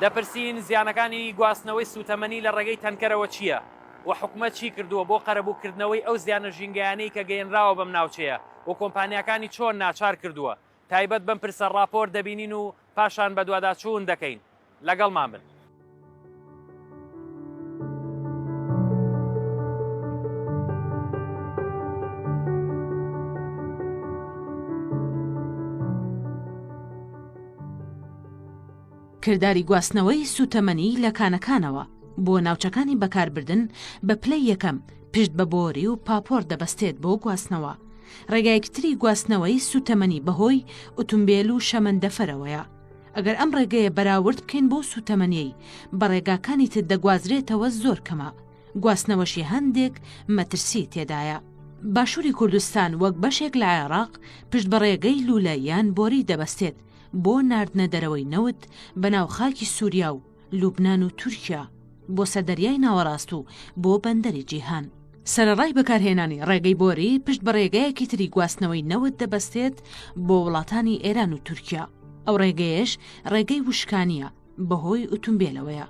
دەپرسین زیانەکانی گواستنەوەی سووتەمەنی لە ڕێگەی تەنکەرەوە چییە و حکومەت چی کردووە بۆ قەرەبووکردنەوەی ئەو زیانە ژینگەیانەی کە گەیەنراوە بەم ناوچەیە و کۆمپانیاکانی چۆن ناچار کردووە تایبەت بەم پرسە ڕاپۆرت دەبینین و پاشان بەدواداچوون دەکەین. لەگەڵمان بن. کرداری گواستنەوەی سووتەمەنی لە کانەکانەوە بۆ ناوچەکانی بەکاربردن بە پلەی یەکەم پشت بە بۆری و پاپۆر دەبەستێت بۆ گواستنەوە. ڕێگایەکی تری گواستنەوەی سووتەمەنی بەهۆی ئوتومبێل و شەمەندەفەرەوەیە. ئەگەر ئەم ڕێگەیە بەراورد بکەین بەو سووتەمەنیەی بە ڕێگاکانی تر دەگوازرێتەوە زۆر کەمە، گواستنەوەشی هەندێک مەترسی تێدایە. باشووری کوردستان وەک بەشێک لە عێراق پشت بە ڕێگەی لوولە یان بۆری دەبەستێت بۆ ناردنە دەرەوەی نەوت بەناو خاکی سوریا و لوبنان و تورکیا بۆ سەر دەریای ناوەڕاست و بۆ بەندەری جیهان. سەرەڕای بەکارهێنانی ڕێگەی بۆری پشت بە ڕێگایەکی تری گواستنەوەی نەوت دەبەستێت بۆ وڵاتانی ئێران و تورکیا، ئەو ڕێگەیەش ڕێگەی وشکانییە، بەهۆی ئوتومبێلەوەیە.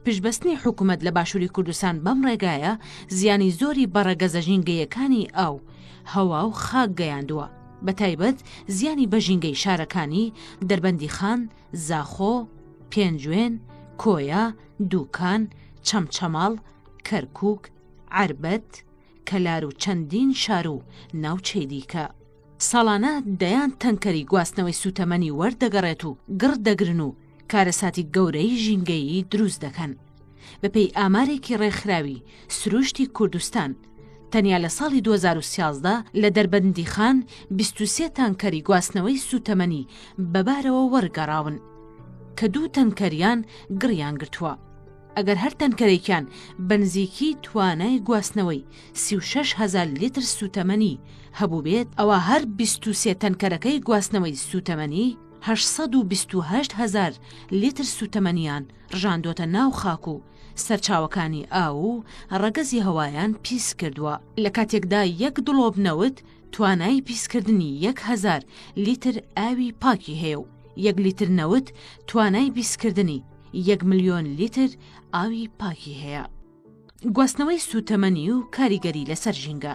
پشتبەستنی حکوومەت لە باشووری کوردستان بەم ڕێگایە زیانی زۆری بە ڕەگەزە ژینگەیەکانی ئاو، هەوا و خاک گەیاندووە، بە تایبەت زیانی بە ژینگەی شارەکانی، دەربەندیخان، زاخۆ، پێنجوێن، کۆیە، دووکان، چەمچەماڵ، کەرکووک، عەربەت، کەلار و چەندین شار و ناوچەی دیکە. ساڵانە دەیان تەنکەری گواستنەوەی سووتەمەنی وەردەگەڕێت و گڕ دەگرن و کارەساتی گەورەی ژینگەیی دروست دەکەن. بەپێی ئامارێکی ڕێکخراوی سرووشتی کوردستان، تەنیا لە ساڵی دوو هەزار و سیازدە لە دەربەندیخان بیست و سێ تانکەری گواستنەوەی سووتەمەنی بەبارەوە وەرگەڕاون، کە دوو تەنکەریان گڕیان گرتووە. ئەگەر هەر تەنکەرێکیان بەنزیکی توانای گواستنەوەی سی و شەش هەزار لیتر سووتەمەنی هەبووبێت ئەوا هەر بیست و سێ تەنکەرەکەی گواستنەوەی سووتەمەنی هەشت سەد و بیست و هەشت هەزار لیتر سووتەمەنیان ڕژاندۆتە ناو خاک و سەرچاوەکانی ئاو و ڕەگەزی هەوایان پیس کردووە، لە کاتێکدا یەک دڵۆپ نەوت توانای پیسکردنی یەک هەزار لیتر ئاوی پاکی هەیە و یەک لیتر نەوت توانای بیسکردنی یەک ملیۆن لیتر ئاوی پاکی هەیە. گواستنەوەی سووتەمەنی و کاریگەری لەسەر ژینگە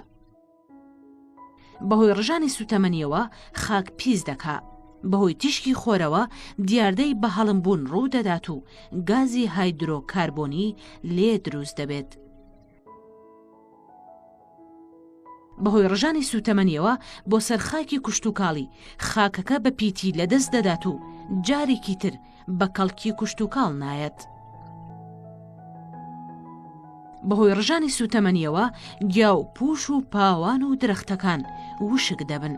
بەهۆی ڕژانی سووتەمەنیەوە خاک پیس دەکا بەهۆی تیشکی خۆرەوە دیاردەی بە هەڵمبوون ڕوو دەدات و گازی هایدرۆکاربۆنی لێ دروست دەبێت بەهۆی ڕژانی سووتەمەنیەوە بۆ سەر خاکی کوشتتوکاڵی خاکەکە بە پیتی لەدەست دەدات و جارێکی تر بە کەڵکی کوشتتوکاڵ نایەت. بەهۆی ڕژانی سووتەمەنیەوە گیا و پوش و پاوان و درەختەکان وشک دەبن.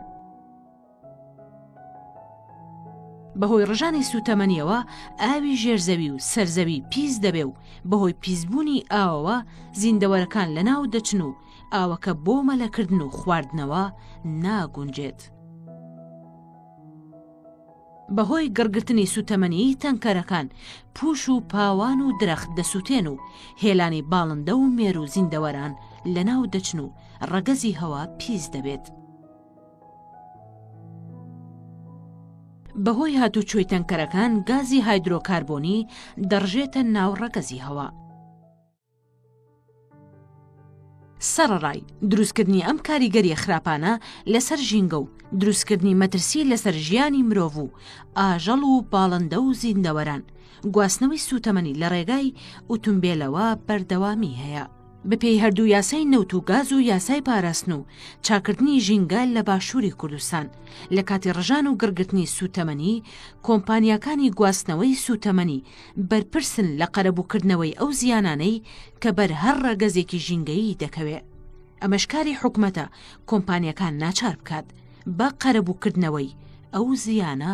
بەهۆی ڕژانی سووتەمەنییەوە ئاوی ژێرزەوی و سەرزەوی پیس دەبێ و بەهۆی پیسبوونی ئاوەوە زیندەوەرەکان لەناو دەچن و ئاوەکە بۆ مەلەکردن و خواردنەوە ناگونجێت. بەهۆی گڕگرتنی سووتەمەنیی تەنکەرەکان پووش و پاوان و درەخت دەسووتێن و هێلانی باڵندە و مێروو زیندەوەران لەناو دەچن و ڕەگەزی هەوا پیس دەبێت. بەهۆی هاتووچۆی تەنکەرەکان گازی هایدرۆکاربۆنی دەڕژێتە ناو ڕەگەزی هەوا. سەڕڕای دروستکردنی ئەم کاریگەریە خراپانە لەسەر ژینگە و دروستکردنی مەترسی لەسەر ژیانی مرۆڤ و ئاژەڵ و باڵندە و زیندەوەران گواستنەوەی سوتەمەنی لە ڕێگای ئوتمبێلەوە بەردەوامی هەیە. بەپێی هەردوو یاسای نەوت و گاز و یاسای پاراستن و چاکردنی ژینگە لە باشووری کوردستان لە کاتی ڕژان و گڕگرتنی سوتەمەنی کۆمپانیاکانی گواستنەوەی سوتەمەنی بەرپرسن لە قەرەبووکردنەوەی ئەو زیانانەی کە بەر هەر ڕەگەزێکی ژینگەیی دەکەوێ ئەمەش کاری حکومەتە کۆمپانیەکان ناچار بکات بە قەرەبووکردنەوەی ئەو زیانە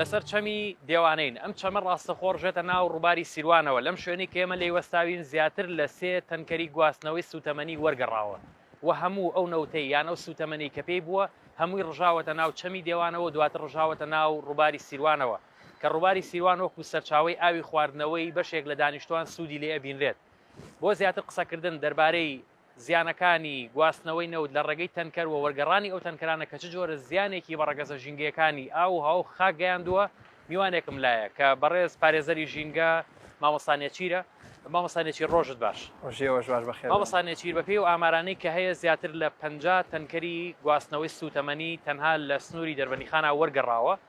لەسەر چەمی دێوانین ئەم چەمە ڕاستەخۆ ڕژێتە ناو ڕووباری سیروانەوە لەم شوێنی کێمە لێی وەستاوین زیاتر لە سێ تەنکەری گواستنەوەی سوتەمەنی وەرگەڕاوە و هەموو ئەو نەوتەی یان ئەو سوتەمەنی کە پێی بووە هەمووی ڕژاوەتە ناو چەمی دێوانەوە دواتر ڕژاوەتە ناو ڕووباری سیروانەوە کە ڕووباری سیروان وەکو سەرچاوەی ئاوی خواردنەوەی بەشێک لە دانیشتوان سوودی لێ ئەبینرێت. بۆ زیاتر قسەکردن دەربارەی زیانەکانی گواستنەوەی نەوت لە ڕێگەی تەنکەر و وەرگەڕانی ئەو تەنکەرانە کە چ جۆرە زیانێکی بە ڕەگەزە ژینگەیەکانی ئاو و هەوا و خاک گەیاندووە میوانێکم لایە کە بەڕێز پارێزەری ژینگە مامۆستا نێچیرە. مامۆستا نێچیر ڕۆژت باش. ڕۆژی ئێوەش باش بەخێر بێن. مامۆستا نێچیر بەپێی ئەو ئامارانەی کە هەیە زیاتر لە پەنجا تەنکەری گواستنەوەی سووتەمەنی تەنها لە سنووری دەربەندیخانە وەرگەڕاوە،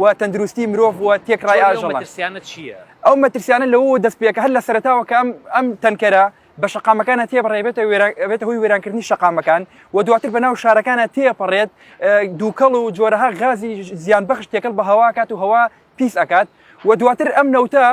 و تەندروستی مرۆڤ و تێکڕای ئاژەڵان ئەو مەترسیانە لەوە دەست پێکە هەر لە سەرتاوە کە ئەم ئەم تەنکەرە بە شقامەکانە تێبڕێبێتە بێتە هۆی وێرانکردنی شقامەکان و دواتر بە ناو شارەکانە تێپەڕێت دووکەڵ و جۆرەها غازی زیان بەخش تێکەڵ بە هەواکات و هەوا پیس ئەکات و دواتر ئەم نەوتە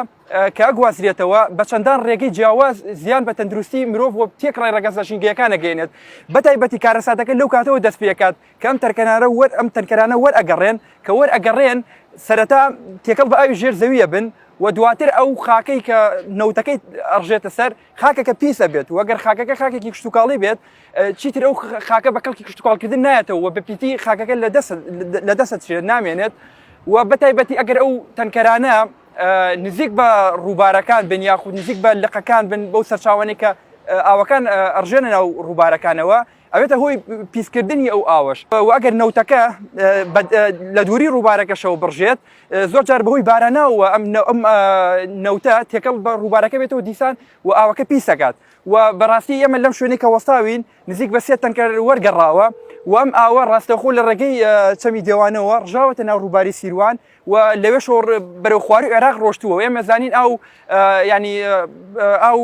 کە گوازرێتەوە بە چەندان ڕێگەی جیاواز زیان بە تەندروستی مرۆڤ و تێکڕای ڕگەزە ژینگەکانە گەێنێت بەتایبەتی کارەساتەکە لەو کاتەوە دەست پێکات کە ئەم تەنکەرانە وەر ئەم تەنکەرانە وەر ئەگەڕێن کە وەر ئەگەڕێن سەرەتا تێکەڵ بە ئاوی ژێر زەویە بن و دواتر ئەو خاکەی کە نەوتەکەی ئەڕژێتە سەر خاکەکە پیسە بێت وەگەر خاکەکە خاکێکی کشتتوکاڵی بێت چیتر ئەو خاکە بە کەڵکی کشتتوکاڵکردن نایەتەوە بە پیتی خاکەکە لە دەست لە دەست شێت نامێنێت و بەتایبەتی ئەگەر ئەو تەنکەرانە نزیک بە ڕووبارەکان بن یاخود نزیک بە لقەکان بن بەو سەرچاوانێکە ئاوەکان ئەڕژێنە ناو ڕووبارەکانەوە ئەبێتە هۆی پیسکردنی ئەو ئاوەش و ئەگەر نەوتەکە لە دووری ڕووبارەکەشەوە بڕژێت زۆر جار بەهۆی باراناوە ئەم ئەم نەوتە تێکەڵ بە ڕووبارەکە بێتەوە دیسان و ئاوەکە پیسەکات و بەڕاستی ئێمە لەم شوێنێکە وەستاوین نزیک بە سێ تەنکە وەرگەڕاوە وام ئاوە ڕاستەخۆ لە ڕێگەی چەمی دێوانەوە ڕژاوەتە ناو ڕووباری سیروان و لەوێشەوە ڕ- بەرەو خواروی عێراق ڕۆشتووە و ئێمە زانین ئاو ئە، یانی ئە، ئاو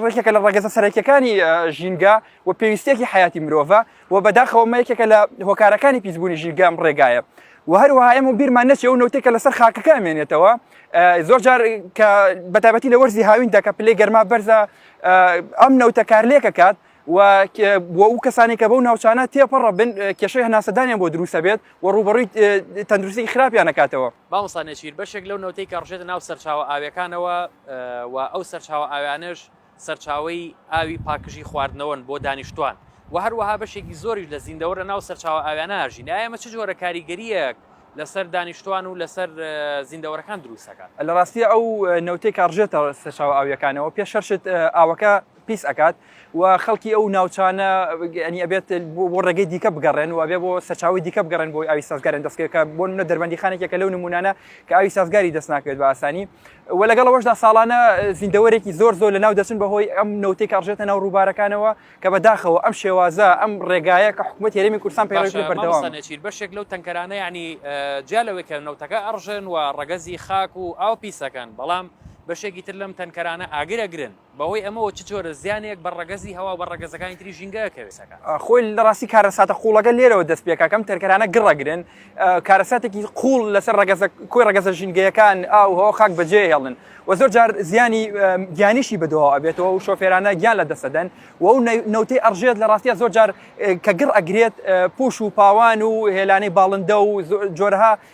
ڕێکێکە لە ڕەگەزە سەرەکیەکانی ئە، ژینگە و پێویستیەکی حەیاتی مرۆڤە و بەداخەوە ئەمە یەکێکە لە هۆکارەکانی پیسبوونی ژینگە ئەم ڕێگایە و هەروەها ئێمە بیرمان نەچێ ئەو نەوتەی کە لەسەر خاکەکە ئەمێنێتەوە ئە، زۆر جار کە بەتایبەتی لە وەرزی هاویندا کە پلەی گەرما بەرزە ئە، ئەم نەوتە کارلێک ئەکات و بۆ ئەو کەسانی کە بەو ناوچانە تێپەڕە بن کێشەی هەناسەدانیان بۆ دروستە بێت و ڕوبەڕووی تەندروستی خراپیان نکاتەوە بامسانێکیر بەشێک لەو نەوتەی کە ڕژێتە ناو سەرچاوە ئاویەکانەوە و ئەو سەرچاوە ئاویانش سەرچاوی ئاوی پاکژی خواردنەوەن بۆ دانیشتوان و هەروەها بەشێکی زۆریش لە زیندەوە لە ناو سەرچاوە ئاویانناژین ئەمە چ جۆرە کاریگەریەک لەسەر دانیشتوان و لەسەر زیندەوەرەکان دروستەکە لە ڕاستیە ئەو نەوتی کارژێتە سەرچاو ئاویەکانەوە پێ شەرشت ئاوەکە پیس ئەکات و خەڵکی ئەو ناوچانە ئەنی ئەبێت بۆ ڕێگەی دیکە بگەڕێن و ئەبێ بۆ سەرچاوی دیکە بگەڕێن بۆی ئاوی سازگارن دەستکرد کە بۆ منە دەربەندی خانێکێکە لەو نمونانە کە ئاوی سازگاری دەست ناکرێت بە ئاسانی و لەگەڵ ئەوەشدا ساڵانە زیندەوەرێکی زۆر زۆر لە ناو دەچن بەهۆی ئەم نەوتێک کاڕژێتە ناو ڕووبارەکانەوە کە بەداخەوە ئەم شێوازە ئەم ڕێگایە کە حکوومەت هێرمی کوردستان پێڕێکی بەردەوام بەشێک لەو تەنکەرانە ینی جیا لەوەی کە نەوتەکە ئەڕژێن و ڕەگەزی خاک و ئاو پیسەکەن بەڵام بەشێکی تر لەم تەنکەرانە ئاگرەگرن بەهۆی ئەمەوە چ جۆرە زیانێک بە ڕەگەزی هەوا و بە ڕەگەزەکانی تری ژینگە ئەکەوێت؟ خۆی لە ڕاستی کارەساتە قووڵەکە لێرەوە دەست پێکا کەم تەرکەرانە گڕ ئەگرن، کارەساتێکی قووڵ لەسەر ڕەگەزە کۆی ڕەگەزە ژینگەیەکان ئاو و هەوا و خاک بەجێ ئەهێڵن و زۆر جار زیانی گیانیشی بەدواوە ئەبێتەوە و شۆفێرانە گیان لە دەست ئەدەن و ئەو نەوتەی ئەڕژێت لە ڕاستیا زۆر جار کە گڕ ئەگرێت پووش و پاوان و هێلانەی باڵندە و جۆرەها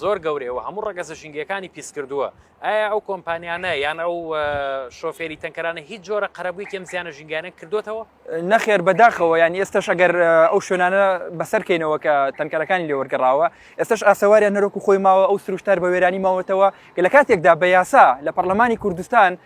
زۆر گەورەیە و هەموو ڕەگەزە ژینگەیەکانی پیسکردووە، ئایا ئەو کۆمپانیانە یان ئەو شۆفێری تەنکەرانە هیچ جۆرە قەرەبوویەکی ئەم زیانە ژینگەیانەیان کردووەتەوە؟ نەخێر بەداخەوە، یان ئێستەش ئەگەر ئەو شوێنانە بەسەر کەینەوە کە تەنکەرەکانی لێ وەرگەڕاوە، ئێستەش ئاسەواریان نەرۆک و خۆی ماوە، ئەو سروشتار بە وێرانی ماوەتەوە کە لە کاتێکدا بە یاسا لە پەڕلەمانی کوردستان،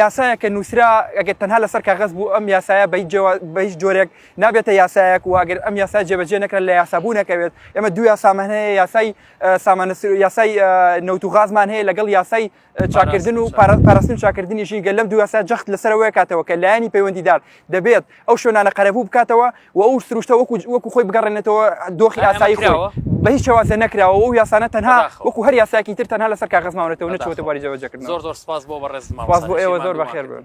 یاسایە کە نووسرا ئەگەر تەنها لەسەر کاغز بوو ئەم یاسایە بە هیچ جۆرێک نابێتە یاسایەک و ئەگەر ئەم یاسا جێبەجێ نەکرا لە یاسابوو نەکەوێت ئێمە دو یاسامان هەیە یاسای سامانە یاسای نەوت و غازمان هەیە لەگەڵ یاسای چاکردن و پاراستن چاکردنیشی گەل لەم دو یاسا جەخت لەسەرەوەی کاتەوە کە لایەنی پەیوەندیدار دەبێت ئەو شوێنانە قەرەبوو بکاتەوە و ئەو سروشتە وەکو وەکو خۆی بگەڕێنێتەوە دۆخی ئاسایی خۆی بە هیچ شێوازە نەکراوە و یاسانە تەنها وەکو هەر یاساکی تر تەنها لەسەر کاغز ماونەتەوە نەچوەتە باری جێبەجێکردن زۆر زۆر سپاس بۆ بەڕێز سپاس بۆ ئێوە زۆر بەخێر بن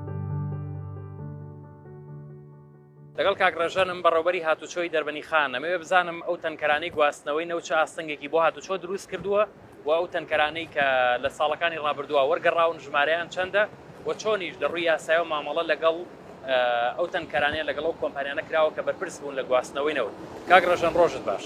لەگەڵ کاک ڕێژەنم بەڕێوبەری هاتوچۆی دەربەنی خان ئەمەوێ بزانم ئەو تەنکەرانەی گواستنەوەی نەوت چ ئاستەنگێکی بۆ هاتوچۆ دروست کردووە و ئەو تەنکەرانەی کە لە ساڵەکانی ڕابردووە وەرگەڕاون ژمارەیان چەندە و چۆنیش لە ڕووی یاسایەوە مامەڵە لەگەڵ ئەو تەنکەرانەیە لەگەڵ ئەو کۆمپانیانە کراوە کە بەرپرس بوون لە گواستنەوەی نەوت کاک ڕێژەن ڕۆژت باش.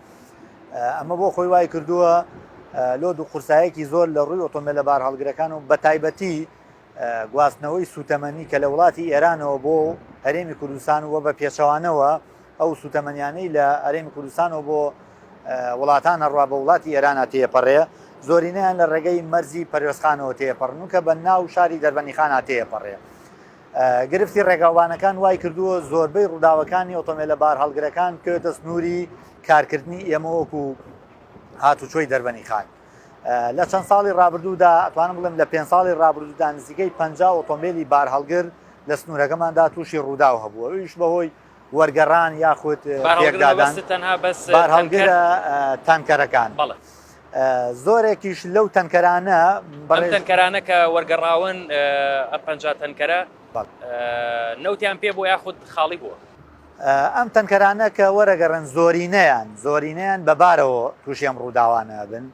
ئەمە بۆ خۆی وای کردووە لۆ دوو قورسایەکی زۆر لە ڕووی ئۆتۆمبیل لە بار هەڵگرەکان و بە تایبەتی گواستنەوەی سوتەمەنی کە لە وڵاتی ئێرانەوە بۆ هەرێمی کوردستان وە بە پێچەوانەوە ئەو سوتەمەنیانەی لە هەرێمی کوردستانەوە بۆ وڵاتان هەڕوا بە وڵاتی ئێرانە تێپەڕێ زۆرینەیان لە ڕێگەی مەرزی پەرۆستخانەوە تێپەڕن و کە بە ناو شاری دەربەنیخان هاتێپەڕێ گرفتی ڕێگاوبانەکان وای کردووە زۆربەی ڕووداوەکانی ئۆتۆمێلە بارهەڵگرەکان بکەوێتە سنووری کارکردنی ئێمە وەکو هاتوچۆی دەربەنی خان لە چەند ساڵی ڕابردوودا ئەتوانم بڵێم لە پێ ساڵی ڕابردوودا نزیکەی پ ئۆتۆمبیلی بارهەڵگر لە سنوورەکەماندا تووشی ڕووداو هەبووە ئیش بەهۆی وەرگەڕان یاخود بارهەڵگرە تانکەرەکان زۆرێکیش لەو تەنکەرانە بەڕێنکەرانە کە وەرگەڕاون ئە پ تەنکەرە نەوتیان پێ بۆ یاخود خاڵی بووە ئەم تەنکەرانە کە وەرەگەڕن زۆرینەیان زۆرینەیان بەبارەوە تووشێم ڕووداوانە بن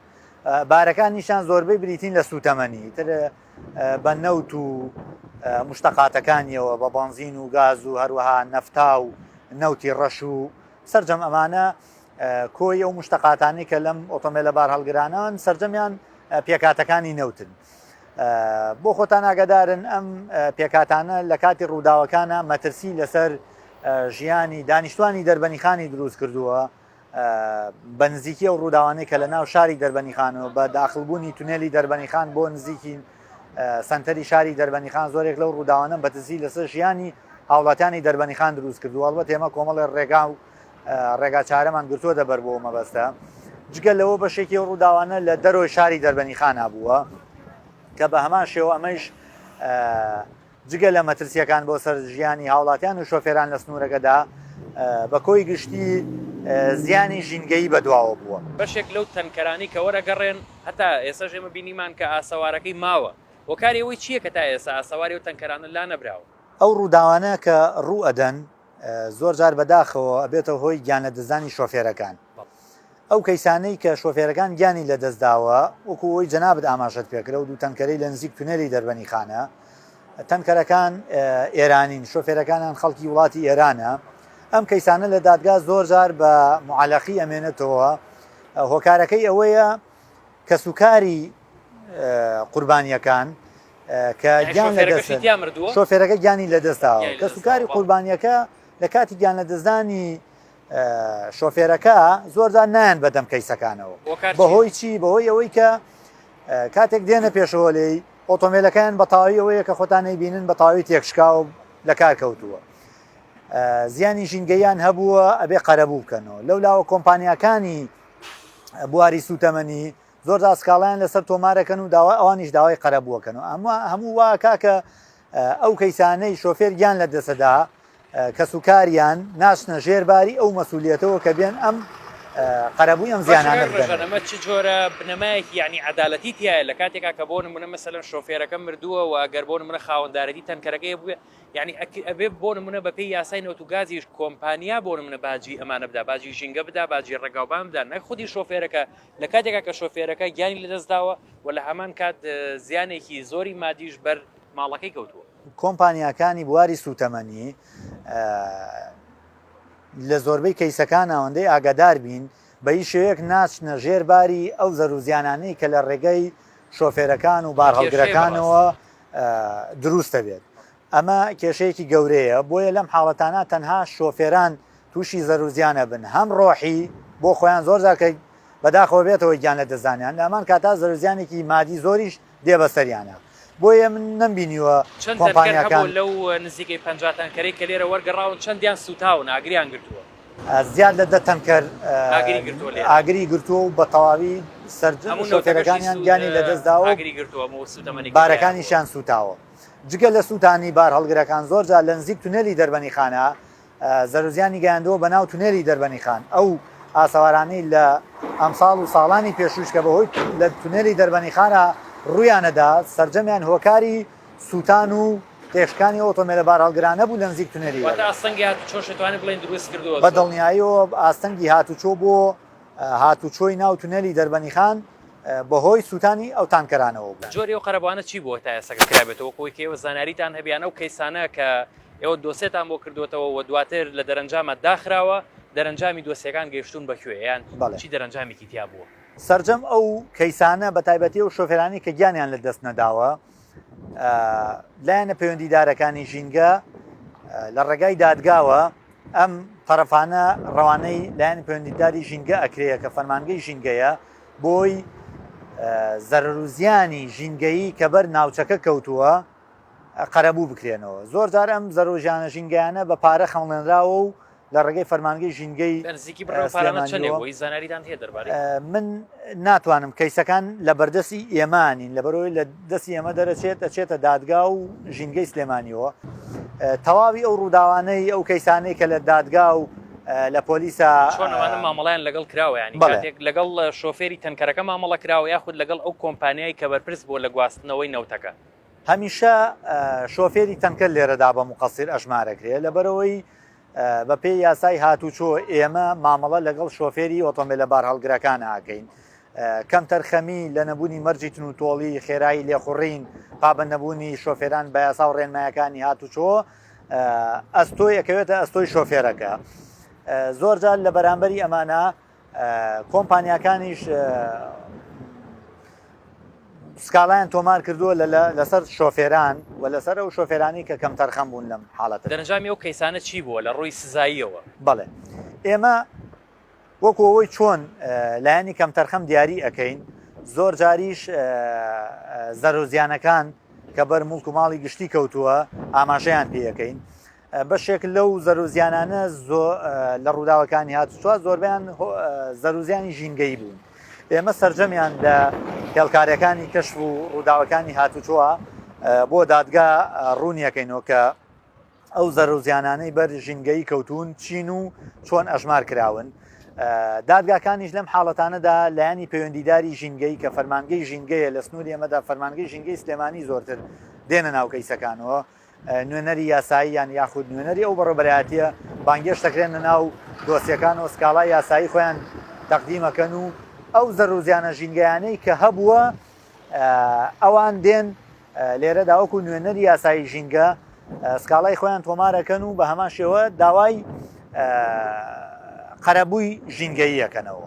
بارەکان نیشان زۆربەی بریتین لە سووتەمەنی تر بە نەوت و مشتەقاتەکانیەوە بە بەنزین و گاز و هەروەها نەفتا و نەوتی ڕەش و سرجەم ئەمانە کۆی ئەو مشتەقاتانی کە لەم ئۆتۆمبیلە بار هەڵگرانان سرجەمیان پێکاتەکانی نەوتن. بۆ خۆتان ئاگادارن ئەم پێکاتانە لە کاتی ڕووداوەکانە مەترسی لەسەر ژیانی دانیشتوانی دەربەنیخانی دروست کردووە بە نزیکی ئەو ڕووداوانەی کە لە ناو شاری دەربەنیخان و بە داخلبوونی تونێلی دەربەنیخان بۆ نزیکی سنتەری شاری دەربەنیخان زۆرێک لەو ڕووداوانە بەتزی لەسەر ژیانی هاوڵاتیانی دەربەنیخان دروست کردو ئەڵبەت ئێمە کۆمەڵێ ڕێگا و ڕێگا چارەمان گرتووە دەبەر بۆ مەبەستە جگە لەوە بەشێکی ئەو ڕووداوانە لە دەرۆی شاری دەربەنیخانە بووە کە بە هەمان شێوە ئەمەش جگە لە مەترسییەکان بۆ سەر ژیانی هاوڵاتیان و شۆفێران لە سنوورەکەدا، بە کۆی گشتی زیانی ژینگەیی بەدواوە بووە. بەشێک لەو تەنکەرانەی کە وەرەگەڕێن هەتا ئێسەش ئێمە بینیمان کە ئاسەوارەکەی ماوە، هۆکاری ئەوەی چییە کە تا ئێسە ئاسەواری ئەو تەنکەرانە لانەبراوە؟ ئەو ڕووداوانە کە ڕوو ئەدەن زۆر جار بەداخەوە ئەبێتە هۆی گیانلەدەستدانی شۆفێرەکان. ئەو کەیسانەی کە شۆفێرەکان گیانی لەدەستداوە، وەکو ئەوەی جەنابت ئاماژەت پێکرد، ئەو دوو تەنکەرەی لە نزیک تونێلی دەربەنیخانە، تەنکەرەکان ئێرانین، شۆفێرەکانیان خەڵکی وڵاتی ئێرانە، ئەم کەیسانە لە دادگا زۆر جار بە معەلەقی ئەمێنێتەوە، هۆکارەکەی ئەوەیە، کەسوکاری قوربانییەکان کە گیان لەدەستن، شۆفێرەکە گیانی لەدەستداوە، کەسوکاری قوربانییەکە لە کاتی گیان لەدەستدانی شۆفێرەکە زۆرجار نایەن بەدەم کەیسەکانەوە بەهۆی چی بەهۆی ئەوەی کە کاتێک دێنە پێشەوە لێی ئۆتۆمبیلەکان بە تاوی ئەوەیە کە خۆتانەی بینن بە تاوی تێکشکاو لە کار کەوتووە زیانی ژینگەیان هەبووە ئەبێ قەرەبوو بکەنەوە لەو لاوە کۆمپانیەکانی بواری سوتەمەنی زۆر دا سکاڵیان لەسەر تۆمارەکەن و داوا ئەوانیش داوای قەرە بووەکەن و ئەمە هەموو وا کاکە ئەو کەیسانەی شۆفێر گیان لە دەسەدا کەس و کاریان ناشنە ژێرباری ئەو مەسوولەتەوە کە بێن ئەم قەرەبووی ئەم زیانانە بژەنەمە چ جۆرە بنەمایەکی یعنی عدالەتی تایە لە کاتێکا کە بۆ نمونە مەسەلەن شۆفێرەکە مردووە و ئەگەر بۆ منە خاوەندارەتی تەنکەرەکەی بووێ یانی ئەک ئەبێ بۆ نمونە بەپێی یاسای نەوت و گازیش کۆمپانیا بۆ نمونە باجی ئەمانە بدا باجی ژینگە بدا باجی ڕێگاوبان بدا نەک خودی شۆفێرەکە لە کاتێکا کە شۆفێرەکە گیانی لەدەستداوە و لە هەمان کات زیانێکی زۆری مادیش بەر ماڵەکەی کەوتووە. کۆمپانیاکانی بواری سوتەمەنی لە زۆربەی کەیسەکان ئەوەندەی ئاگادار بین بە هیچ شێوەیەک ناچنە ژێر باری ئەو زەروزیانانەی کە لە ڕێگەی شۆفێرەکان و بارهەڵگرەکانەوە دروستە بێت ئەمە کێشەیەکی گەورەیە بۆیە لەم حاڵەتانە تەنها شۆفێران تووشی زەروزیانە بن هەم ڕۆحی بۆ خۆیان زۆر زارکە بەداخەوە بێتەوە گیان لە دەزانیان ئەمان کاتا زەرزیانێکی مادی زۆریش دێ بەسەریانە بۆیە من نەمبینیوە چەند کۆمپانیەکان لەو نزیکەی پەنجا تانکەرەی کە لێرە وەرگەڕاون چەندیان سوتاون ئاگریان گرتووە. زیاد لە دە تەنکەر ئاگری گرتووە و بە تەواوی سەرجەمشۆفێرەکانیان گیانی لەدەستداوە بارەکانیشیان سوتاوە جگە لە سووتانی بار هەڵگرەکان زۆرجار لە نزیک تونێلی دەربەنی خانە زەرزیانی گەیاندەوە بە ناو تونێلی دەربەنی خان ئەو ئاسەوارانەی لە ئەمساڵ و ساڵانی پێشوش کە بەهۆی لە تونێلی دەربەنی خانە ڕویانەدا سرجەمیان هۆکاری سووتان و تێکشکانی ئۆتۆمێلە بارهەڵگرانە بوو لە نزیک تونێلی وێڵێ. واتە ئاستەنگی هاتوچۆش دەتوانین بڵێین دروست کردووە. بە دڵنیاییەوە ئاستەنگی هاتوچۆ بۆ هاتوچۆی ناو تونێلی دەربەنیخان بەهۆی سووتانی ئەو تانکەرانەوە بوو. جۆری ئەو قەرەبووانە چی بووە تا ئێستاکە کرابێتەوە؟ وەکو ئەوەی کە ئێوە زانیاریتان هەبێ یان ئەو کەیسانە کە ئێوە دۆسێتان بۆ کردووەتەوە و دواتر لە دەرەنجامە داخراوە، دەرەنجامی دۆسیەکان گەیشتوون بە کوێ یان چی دەرەنجامێکی تیا بووە؟ سەرجەم ئەو کەیسانە بە تایبەتی و شۆفێرانی کە گیانیان لە دەست نەداوە لایەنە پەیوەندیدارەکانی ژینگە لە ڕێگای دادگاوە ئەم تەرەفانە ڕەوانەی لایەن پەیوەندیداری ژینگە ئەکرەیە کە فەرمانگەی ژینگەیە بۆی زەرروزیانی ژینگەیی کە بەر ناوچەکە کەوتووە قەرەبوو بکرێنەوە. زۆرجار ئەم زەرۆژیانە ژینگەیانە بە پارە خەمڵێنراوە و لە ڕێگەی فەرمانگەی ژینگەی سلێمانیەوە، من ناتوانم کەیسەکان لە بەردەستی ئێمە نین لەبەرەوەی لە دەستی ئێمە دەرەچێت دەچێتە دادگا و ژینگەی سلێمانیەوە تەواوی ئەو ڕووداوانەی ئەو کەیسانەی کە لە دادگا و لە پۆلیسا چۆنەوانە مامەڵیان لەگەڵ کراوەیان لەگەڵ شۆفێری تەنکەرەکە مامەڵە کراوە یاخود لەگەڵ ئەو کۆمپانیای کە بەرپرس بۆ لە گواستنەوەی نەوتەکە. هەمیشە شۆفێری تەنکەر لێرەدا بە مقەسیر ئەژمارەکرێ لەبەرەوەی بەپێی یاسای هاتوچۆ ئێمە مامەڵە لەگەڵ شۆفێری ئۆتۆمبیلە بارهەڵگرەکان ئاکەین کەم تەرخەمی لە نەبوونی مەرجی تن و تۆڵی خێرایی لێخوڕین پابە نەبوونی شۆفێران بە یاسا و ڕێنمایەکانی هاتوچۆ ئەستۆی ئەکەوێتە ئەستۆی شۆفێرەکە زۆرجار لە بەرامبەری ئەمانە کۆمپانیاکانیش سکاڵایان تۆمار کردووە لەسەر شۆفێران و لەسەر ئەو شۆفێرانی کە کەم تەرخەم بوون لەم حاڵەت دەرەنجامی ئەو کەیسانە چی بووە لە ڕووی سزاییەوە بڵێ ئێمە وەکو ئەوەی چۆن لایەنی کەم تەرخەم دیاری ئەەکەین زۆر جاریش زەرۆزیانەکان کە بەر مڵک و ماڵی گشتی کەوتووە ئاماژەیان پێەکەین بەشێک لەو زەرەرو زیانانە لە ڕووداوەکانی هاتوچۆ زۆربەیان زەرەرو زیانی ژینگەیی بوون. ئێمە سەرجەمیان لە هێڵکارەکانی کەشف و ڕووداوەکانی هاتوچۆ بۆ دادگا ڕوونیەکەینەوە کە ئەو زەرەرو زیانانەی بەر ژینگەیی کەوتوون چین و چۆن ئەژمار کراون. دادگاکانیش لەم حاڵەتانەدا لایەنی پەیوەندیداری ژینگەیی کە فەرمانگەی ژینگەیە لە سنووری ئێمەدا فەرمانگەی ژینگەی سلێمانی زۆرتر دێنە ناو کەیسەکانەوە. نوێنەری یاساییان یاخود نوێنەری ئەو بەڕێبەرایەتیە بانگێش دەکرێن لە ناو دۆسیەکان و سکاڵای یاسایی خۆیان تەقدیمەکەن و ئەو زەرروزیانە ژینگەیانەی کە هەبووە ئەوان دێن لێرە داوەکو نوێنەری یاسایی ژینگە سکاڵای خۆیان تۆمارەکەن و بە هەمان شێوە داوای قەرەبووی ژینگەییەکەنەوە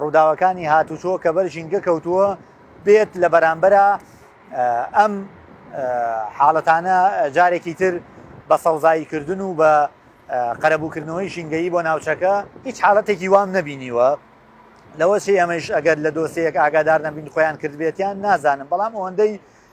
ڕووداوەکانی هاتوچۆ کە بەر ژینگە کەوتووە بێت لە بەرامبەرا ئەم حاڵەتانە جارێکی تر بە سەوزایی کردن و بە قەرەبووکردنەوەی ژینگەیی بۆ ناوچەکە هیچ حاڵەتێکی وام نەبینیوە لەوەشی ئەمەش ئەگەر لە دۆسەیەک ئاگادار نەبین خۆیان کردبێتیان نازانم بەڵام ئەوەندەی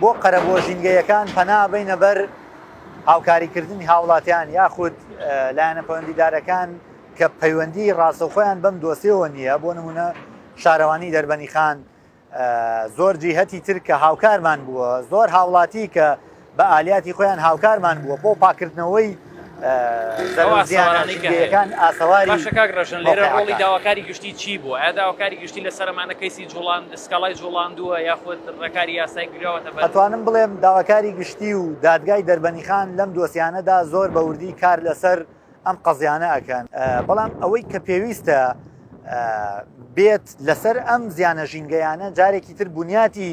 بۆ قەرەبووە ژینگەییەکان پەنا بەینە بەر هاوکاریکردنی هاوڵاتیان یاخود لایەنە پەوەندیدارەکان کە پەیوەندی ڕاستەوخۆیان بەم دۆسێەوە نییە بۆ نمونە شارەوانی دەربەنی خان زۆر جیهەتی تر کە هاوکارمان بووە زۆر هاوڵاتی کە بە ئالیاتی خۆیان هاوکارمان بووە بۆ پاکردنەوەی زەرزیانەکان ئاسەواری باشە کاک ڕژن لێرە ڕۆڵی داواکاری گشتی چی بوو ئایا داواکاری گشتی لە سەرمانە کەیسی جوڵان سکاڵای جوڵاندووە یاخود ڕێکاری یاسای گرەوەتە ئەتوانم بڵێم داواکاری گشتی و دادگای دەربەنیخان لەم دۆسیانەدا زۆر بە وردی کار لەسەر ئەم قەزیانە ئەکەن بەڵام ئەوەی کە پێویستە بێت لەسەر ئەم زیانە ژینگەیانە جارێکی تر بنیاتی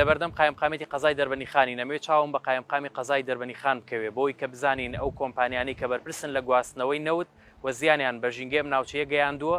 لەبەردەم قایمقامیەتی قەزای دەربەنیخانی نەمەوێت چاوم بە قایمقامی قەزای دەربەنیخان بکەوێت بۆی کە بزانین ئەو کۆمپانیانەی کە بەرپرسن لە گواستنەوەی نەوت و زیانیان بە ژینگەی ئەم ناوچەیە گەیاندووە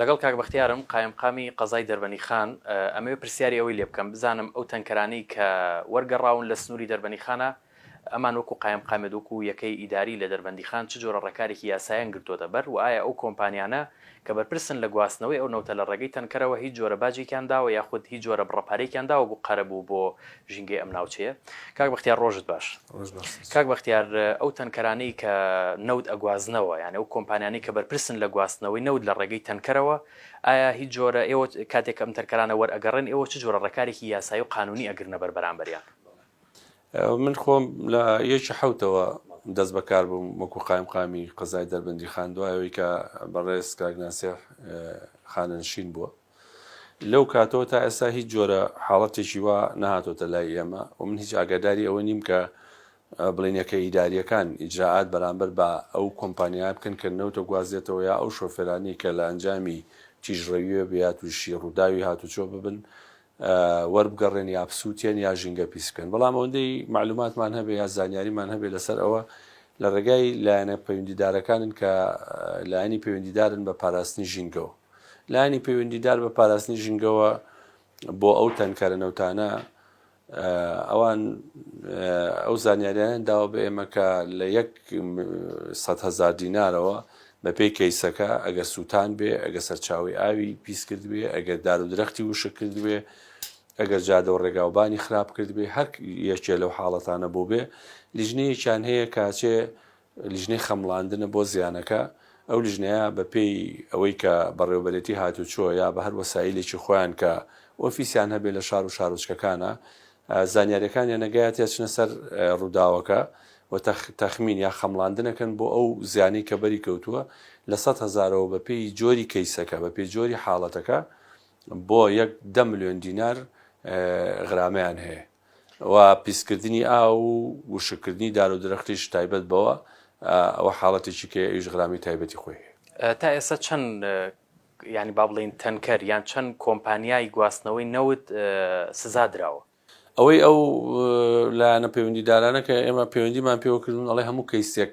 لەگەڵ کاک بەختیارم قایمقامی قەزای دەربەنیخان، ئەمەوێ پرسیاری ئەوەی لێبکەم بزانم ئەو تەنکەرانەی کە وەرگەڕاون لە سنوری دەربەنیخانە ئەمان وەکو قایمقامێت وەکو یەکەی ئیداری لە دەربەندیخان چ جۆرە ڕێکارێکی یاسایان گرتۆتە بەر وە ئایا ئەو کۆمپانیانە کە بەرپرسن لە گواستنەوەی ئەو نەوتە لە ڕێگەی تەنکەرەوە هیچ جۆرە باجێکیان داوە یاخود هیچ جۆرە بڕە پارەیەکیان داوە بو قەرەبو بۆ ژینگەی ئەم ناوچەیە کاک بەختیار ڕۆژت باش کاک بەختیار ئەو تەنکەرانەی کە نەود ئەگوازنەوە یان ئەو کۆمپانیانی کە بەرپرسن لە گواستنەوەی نەود لە ڕێگەی تەنکەرەوە ئایا هیچ جۆرە ئێوە کاتێک ئەم تەنکەرانە وەرئەگەڕێن ئێوە چ جۆرە ڕێکارێکی یاسایی و قانونی ئەگرنە بەر بەرامبەریان من خۆم لە یەکی حوتەوە دەست بەکار بووم وەکو قایم قامی قەزای دەربندی خان دوایەوەی کە بەڕێز کاگناسێ خانەنشین بووە لەو کاتەوە تا ئێستا هیچ جۆرە حاڵەتێکی وا نەهاتۆتە لای ئێمە و من هیچ ئاگاداری ئەوە نیم کە بڵینەکە ئیداریەکان ئیجرائات بەرامبەر بە ئەو کۆمپانیایە بکەن کە نەوتە گوازێتەوە یا ئەو شۆفێرانی کە لە ئەنجامی تیژڕەویە بە یا تووشی ڕووداوی هاتوچۆ ببن وەربگەڕێن یا بسووتێن یا ژینگە پیس بکەن بەڵام ئەوەندەی معلوماتمان هەبێ یا زانیاریمان هەبێ لەسەر ئەوە لە ڕێگای لایەنە پەیوەندیدارەکانن کە لایەنی پەیوەندیدارن بە پاراستنی ژینگەوە لایەنی پەیوەندیدار بە پاراستنی ژینگەوە بۆ ئەو تەنکەرە نەوتانە ئەوان ئەو زانیاریان داوە بە ئێمە کە لە یەک هزار دینارەوە بەپێی کەیسەکە ئەگەر سووتان بێ ئەگە سەرچاوی ئاوی پیس کرد بێ ئەگەر دار و درەختی وشە کرد بێ ئەگەر جادە و ڕێگاوبانی خراپ کرد بێ هەر یەکێ لەو حاڵەتانە بۆ بێ لیژنەیەکیان هەیە کاچێ لیژنەی خەمڵاندنە بۆ زیانەکە، ئەو لیژنەیە بە پێی ئەوەی کە بەڕێوەبەرێتی هاتوچۆ یا بە هەر وەسایلێکی خۆیان کە ئۆفیسیان هەبێت لە شار و شارۆچکەکانە زانیاریەکانیان ئەگات یا چنە سەر ڕووداوەکە و تەخمین یا خەمڵاندن ئەکەن بۆ ئەو زیانەی کە بەری کەوتووە لە سەد هەزارەوە بە پێی جۆری کەیسەکە بە پێی جۆری حاڵەتەکە بۆ یەک دە ملیۆن دینار غرامەیان هەیە. و پیسکردنی ئاو و وشککردنی دار و درەختیش تایبەت بەوە ئەوە حاڵەتێکی کەیە ئەویش غرامی تایبەتی خۆی هەیە. تا ئێستا چەند یانی با بڵێین تەنکەر یان چەند کۆمپانیای گواستنەوەی نەوت سزا دراوە؟ ئەوەی ئەو لایەنە پەیوەندیدارانە کە ئێمە پەیوەندیمان پێوە کردوون ئەڵێ هەموو کەیسێک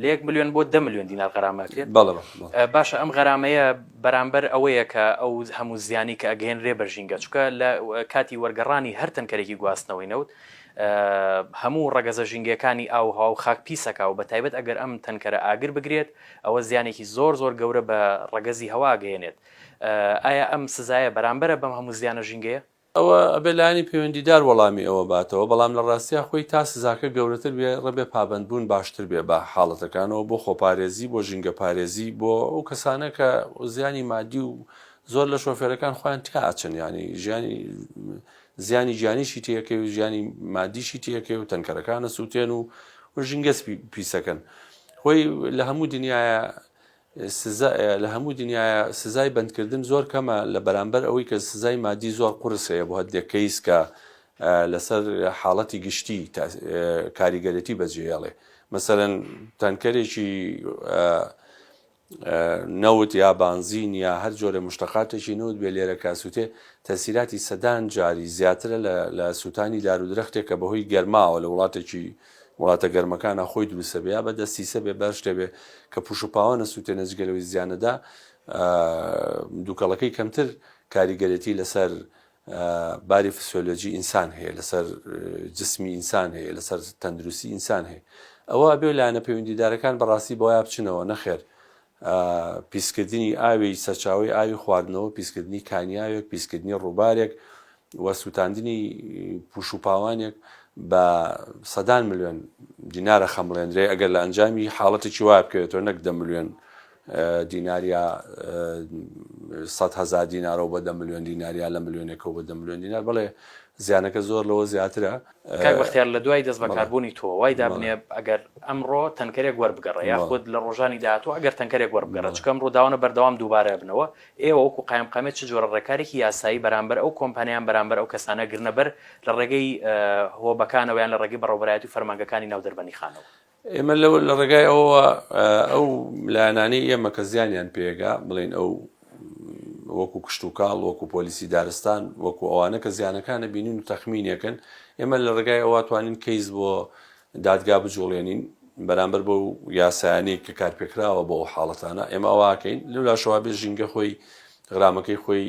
لە یەک ملیۆن بۆ دە ملیۆن دینار غەرامە ئەکرێت. بەڵێ بەڵێ. باشە ئەم غەرامەیە بەرامبەر ئەوەیە کە ئەو هەموو زیانی کە ئەگەیەنرێ بە ژینگە، چونکە لە کاتی وەرگەڕانی هەر تەنکەرێکی گواستنەوەی نەوت هەموو ڕەگەزە ژینگەیەکانی ئاو و هەوا و خاک پیس ئەکا و بە تایبەت ئەگەر ئەم تەنکەرە ئاگر بگرێت ئەوە زیانێکی زۆر زۆر گەورە بە ڕەگەزی هەوا ئەگەیەنێت. ئایا ئەم سزایە بەرامبەرە بەم هەموو زیانە ژینگەیە؟ ئەوە ئەبێ لایەنی پەیوەندیدار وەڵامی ئەوە باتەوە، بەڵام لە ڕاستیا خۆی تا سزاکە گەورەتر بێ ڕێبێ پابەند بوون باشتر بێ بە حاڵەتەکانەوە بۆ خۆپارێزی بۆ ژینگە پارێزی بۆ ئەو کەسانە کە زیانی مادی و زۆر لە شۆفێرەکان خۆیان تیا ئەچن یانی ژیانی زیانی گیانیشی تێکەوی و ژیانی مادیشی تێکەوی و تەنکەرەکانە سووتێن و و ژینگەس پیسەکەن خۆی لە هەموو دنیاە سزا لە هەموو دنیایە سزای بەندکردن زۆر کەمە لە بەرامبەر ئەوەی کە سزای مادی زۆر قورس هەیە بۆ هەندێک کەیس کە لەسەر حاڵەتی گشتی کاریگەرێتی بەجێهێڵێ مەسەرەن تەنکەرێکی نەوت یا بانزین یا هەر جۆرە مشتەقاتێکی نەوت بێ لێرە کاسووتێ تەسیراتی سەدان جاری زیاترە لە سووتانی دارودرەختێک کە بەهۆی گەرماوە لە وڵاتێکی وڵاتە گەرمەکانا خۆی دروستەبێ یا بە دەستی سەبێ بەر شتەبێ کە پوش پاوە نەسوتێنە جگەلەوەی زیانەدا دوکەڵەکەی کەمتر کاریگەرێتی لەسەر باری فسیۆلۆجی ئینسان هەیە لەسەر جسمی ئینسان هەیە لەسەر تەندروستی ئینسان هەیە ئەوە بێ لایەنە پەیوەندیدارەکان بەڕاستی بۆیا بچنەوە نەخێر ە، پیسکردنی ئاوی سەرچاوەی ئاوی خواردنەوە، پیسکردنی کانیاوێک، پیسکردنی ڕووبارێک و سووتاندنی پووش و پاوانێک بە سەدان ملوێن دینارە خەمڵێندرێ ئەگەر لە ئەنجامی حاڵەتێکی وایە بکەوێتەوە نەک دە ملوێن دینار یا سەد هەزار دینارەوە بە دە ملوێن دینار یا لە ملوێنێکەوە بە دە ملوێن دینار بەڵێ زیانەکە زۆر لەوە زیاترە. کاک بەختیار لە دوای دەست بەکار بوونی تۆ وای دابنێ ئەگەر ئەمڕۆ تەنکەرێک وەربگەڕێ یاخود لە ڕۆژانی داهاتوو ئەگەر تەنکەرێک وەربگەڕێ چونکە ئەمڕۆ داوانە بەردەوام دووبارە ئەبنەوە ئێوە وەکوو قایمقامیەت چ جۆرە ڕێکارێکی یاسایی بەرامبەر ئەو کۆمپانیایان بەرامبەر ئەو کەسانە گرنەبەر لە ڕێگەی هۆبەکانەوە یان لە ڕێگەی بەڕێوەبەرایەتی و فەرمانگەکانی ناو دەربەندیخانەوە ئێمە لە ڕێگای ئەوەوە ئەو لایەنانەی ئێمە کە زیانیان پێگا بڵێن ئەو وەکو کشتتوکاڵ وەکو پۆلیسی دارستان وەکو ئەوانە کە زیانەکانە بینین و تەخمینەکەن ئێمە لە ڕێگای ئەوە توانین کەیس بۆ دادگا بجوڵێنین بەرامبەر بە و یاسایانی کە کارپێکراوە بۆ ئەو حاڵەتانە ئێمە ئەوواکەین لەلاشەوە بێ ژینگە خۆی غرامەکەی خۆی